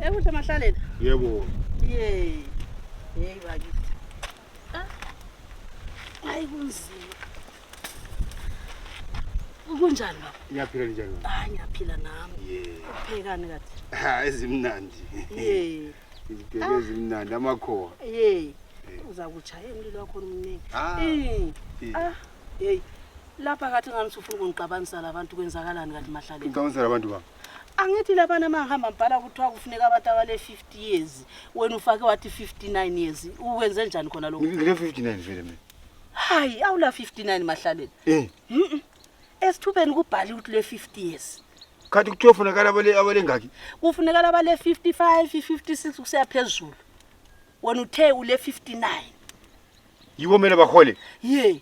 Ekuhle mahlalela. Yebo. Yey. Hey bakithi. Ah. Hayi kunzima. Kunjani baba? Ngiyaphila njani baba? Hayi ngiyaphila nami. Yey. Uphekani kathi? Ha ezimnandi. Yey. Izibheke ah. ezimnandi amakhowa. Yey. Uza kuchaya umlilo wakho omningi. Ah. Eh. Ah. Yey. Lapha kathi ngani usufuna ukungixabanisa labantu kwenzakalani kathi mahlalela? Ngixabanisa labantu baba. angithi labana mahamba mbhala kuthiwa kufuneka abantu abale 50 years wena ufake wathi 59 years uwenze njani khona lokho ngile 59 vele mina hayi awula 59 mahlaleni eh mhm esithubeni kubhali ukuthi le 50 years khathi kuthiwa ufunekala abale abale ngaki kufunekala abale 55 56 kusiya phezulu wena uthe ule 59 yiwo mina bahole ye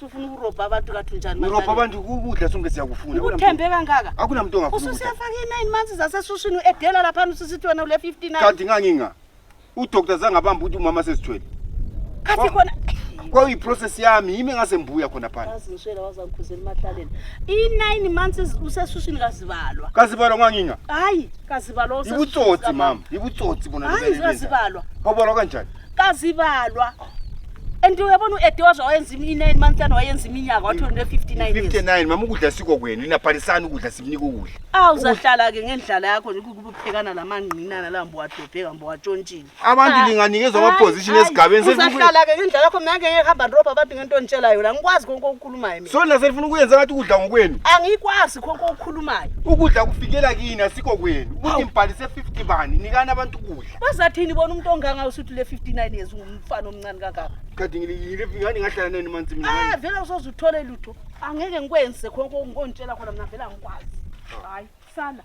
sufuna ukurobha abantu kathi unjani urobha abantu ukudla sonke siyakufuna uthembe kangaka akunamuntu ongafuna ususiyafaka i-nine months zasesushini u-edela laphana ususithi wena ule 59 kanti nganginga udoktor zange abambe ukuthi umama sesithwele kathi khona kwakuyiprocess yami yimi ngase mbuya khona phana azishela wazangikhuzela emahlaleni i-nine months usesushini kazibalwa kazibalwa nganginga hayi kazibalwa yibutsotsi mama yibutsotsi bona hayi kazibalwa kabalwa kanjani kazibalwa and uyabona u-ede waze wayenza i-nine month and wayenza iminyaka wathi une 59 years 59 mama ukudla siko kwenu inabhalisana ukudla simnika ukudla awu uzahlala-ke ngendlala yakho nje kukuphekana la mangqinana la mbowadobheka mbowatshontshile abantu Ah. linganikezwa Hayi, amaposition hayi. esigabeni selifuna ukuye- uzahlala-ke ngendlala yakho mina ngeke ngihamba ndirobha abantu ngento onditshela yona ngikwazi konke okukhulumayo mina so lina selifuna ukuyenza ngathi ukudla ngokwenu angikwazi konke okukhulumayo ukudla kufikela kini asiko kwenu ukuthi ngibhalise 50 bani nikani abantu ukudla bazathini bona umuntu onganga usuthi le 59 years ungumfana omncane kangaka kade ngilingani ngahlala nani manzi mina ah vele usoze uthole lutho angeke ngikwenze khonke ngikontshela khona mina vele angikwazi hayi sala